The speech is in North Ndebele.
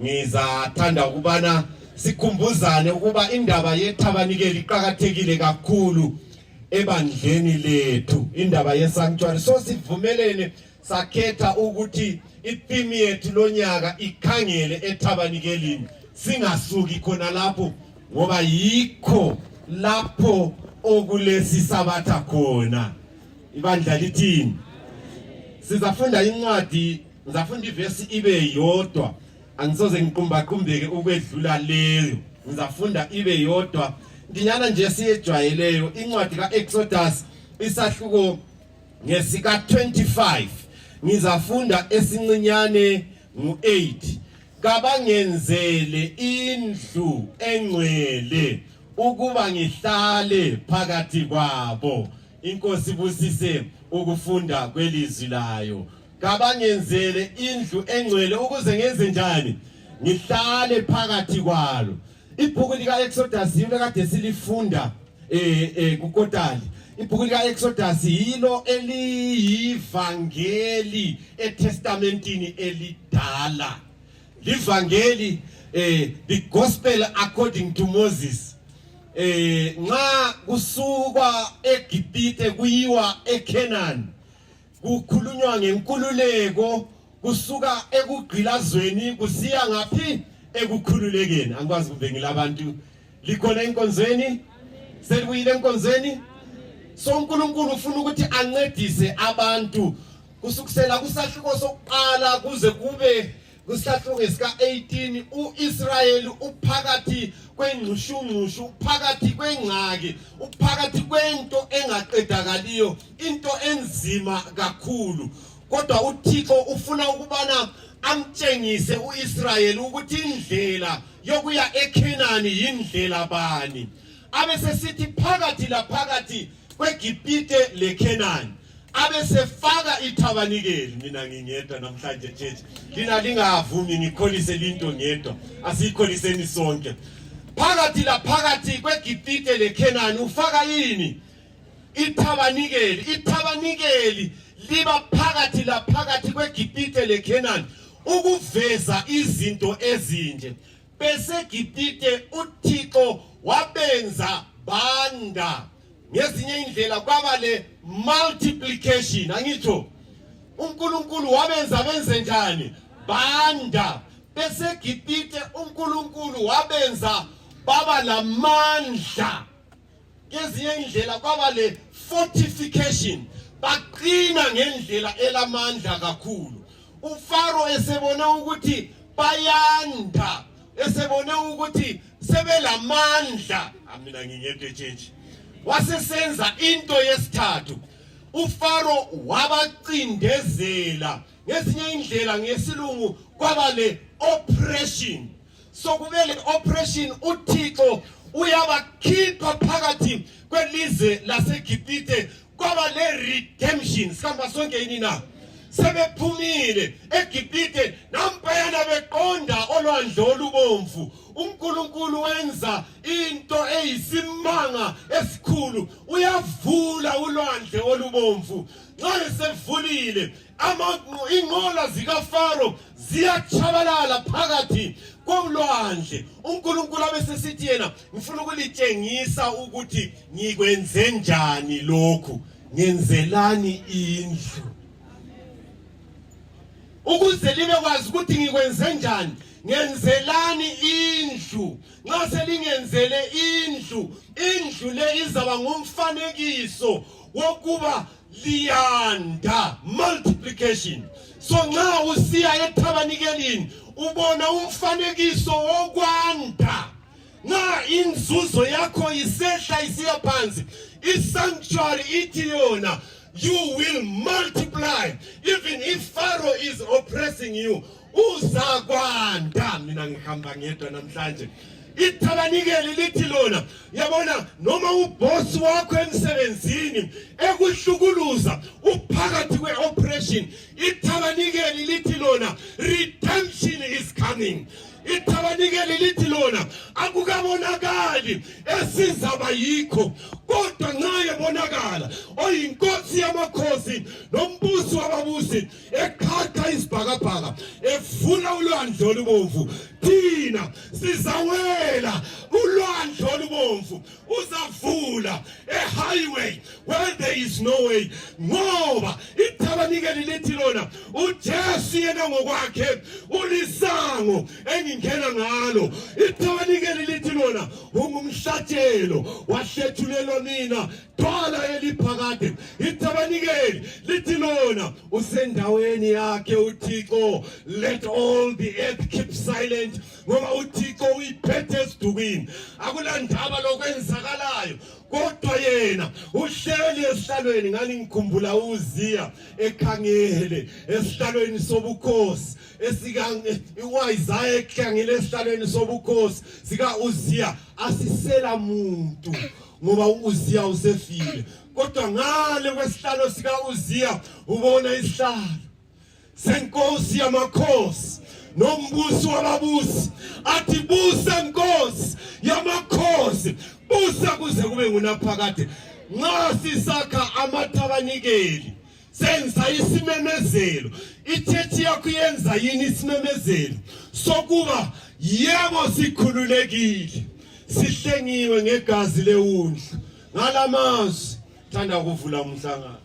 ngizathanda ukubana sikhumbuzane ukuba indaba yethabanikeli iqakathekile kakhulu ebandleni lethu indaba yesanctuary so sivumelene sakhetha ukuthi itheme yethu lonyaka ikhangele ethabanikelini singasuki khona lapho ngoba yikho lapho okulesi sabatha khona ibandla lithini sizafunda incwadi ngizafunda ivesi ibe yodwa angisoze ngiqumbaqumbeke ukwedlula leyo ngizafunda ibe yodwa ndinyana nje siyejwayeleyo incwadi ka-exodus isahluko Ngesika 25 ngizafunda esincinyane ngu-8 kabangenzele indlu engcwele ukuba ngihlale phakathi kwabo inkosi busise ukufunda kwelizwi layo kabangenzele indlu engcwele ukuze ngenze njani ngihlale phakathi kwalo ibhuku lika Exodus yilo kade silifunda eh eh kukotali ibhuku lika Exodus yilo eliyivangeli eTestamentini elidala livangeli eh the gospel according to Moses eh nxa kusukwa eGibhithe kuyiwa eCanaan kukhulunywa ngenkululeko kusuka ekugqilazweni kusiya ngaphi ekukhululekeni angikwazi kumbe ngilabantu likhona enkonzweni selibuyile enkonzweni so unkulunkulu ufuna ukuthi ancedise abantu kusukusela kusahluko sokuqala kuze kube Kwisahluko sika-18 u-Israyeli uphakathi kwengxushungxushu uphakathi kwengxaki uphakathi kwento engaqedakaliyo into enzima kakhulu kodwa uThixo ufuna ukubana amtshengise uIsrayeli ukuthi indlela yokuya eKhenani yindlela bani abesesithi phakathi laphakathi kweGibhite leKhenani abesefaka ithabanikeli mina ngingedwa namhlanje church lina lingavumi ngikholise linto ngedwa asiyikholiseni sonke phakathi laphakathi kwegibhite lekhenani ufaka yini ithabanikeli ithabanikeli liba phakathi laphakathi kwegibhite lekhenani ukuveza izinto ezinje besegibhite uthixo wabenza banda ngezinye indlela kwaba le multiplication angitsho uNkulunkulu wabenza benze njani banda besegibhite uNkulunkulu wabenza baba lamandla ngezinye indlela kwaba le fortification baqina ngendlela elamandla kakhulu ufaro esebona ukuthi bayanda esebone ukuthi sebelamandla amina ngingento etshentshe wasesenza into yesithathu ufaro wabacindezela ngezinye indlela ngesilungu kwaba le oppression sokube le oppression uthixo uyabakhipha phakathi kwelizwe lasegibhithe kwaba le redemption sihamba sonke yini na sebephumile egibhithe nampayana beqonda olwandle olubomvu unkulunkulu wenza into eyisimanga esikhulu uyavula ulwandle olubomvu nxa esevulile inqola zikafaro ziyatshabalala phakathi kolwandle unkulunkulu abesesithi yena ngifuna ukulitshengisa ukuthi ngikwenze njani lokhu ngenzelani indlu ukuze libe kwazi ukuthi ngikwenze njani ngenzelani indlu nxa selingenzele indlu indlu le izaba ngumfanekiso wokuba liyanda multiplication so nxa usiya ethabanikelini ubona umfanekiso wokwanda nxa inzuzo yakho isehla isiya phansi isanctuary ithi yona you will multiply even if pharaoh is oppressing you uzakwanda mina ngihamba ngedwa namhlanje ithabanikeli lithi lona yabona noma ubhosi wakho emsebenzini ekuhlukuluza uphakathi kwe-operation ithabanikeli lithi lona redemption is coming ithabanikeli lithi lona akukabonakali esizaba yikho kodwa nxa ebonakala oyinkosi yamakhosi nombusi wababusi ekhatha izibhakabhaka efuna ulwandle olubomvu thina sizawela ulwandle olubomvu uzavula ehighway where there is no way ngoba ithabanikeli lithi lona ujesu yena ngokwakhe ulisango engingena ngalo ithabanikeli lithi lona ungumhlatshelo wahlethulelwa mina Dwala eliphakade itabanikeli lithi lona usendaweni yakhe uThixo let all the earth keep silent ngoba uThixo uyiphethe esidukwini akulandaba lokwenzakalayo kodwa yena uhleli esihlalweni ngani ngikhumbula uziya ekhangele esihlalweni sobukhosi esikaIsaya ekhangele esihlalweni sobukhosi sika uziya asisela muntu ngoba uZiya usefile kodwa ngale kwesihlalo sika uZiya ubona isihlalo senkosi yamakhosi nombusi wababusi athi busa nkosi yamakhosi busa kuze kube ngunaphakade nxa sisakha amathabanikeli senza isimemezelo ichechi yakho yenza yini isimemezelo sokuba yebo sikhululekile sihlengiwe ngegazi lewundlu ngalamazwi thanda kuvula umhlangano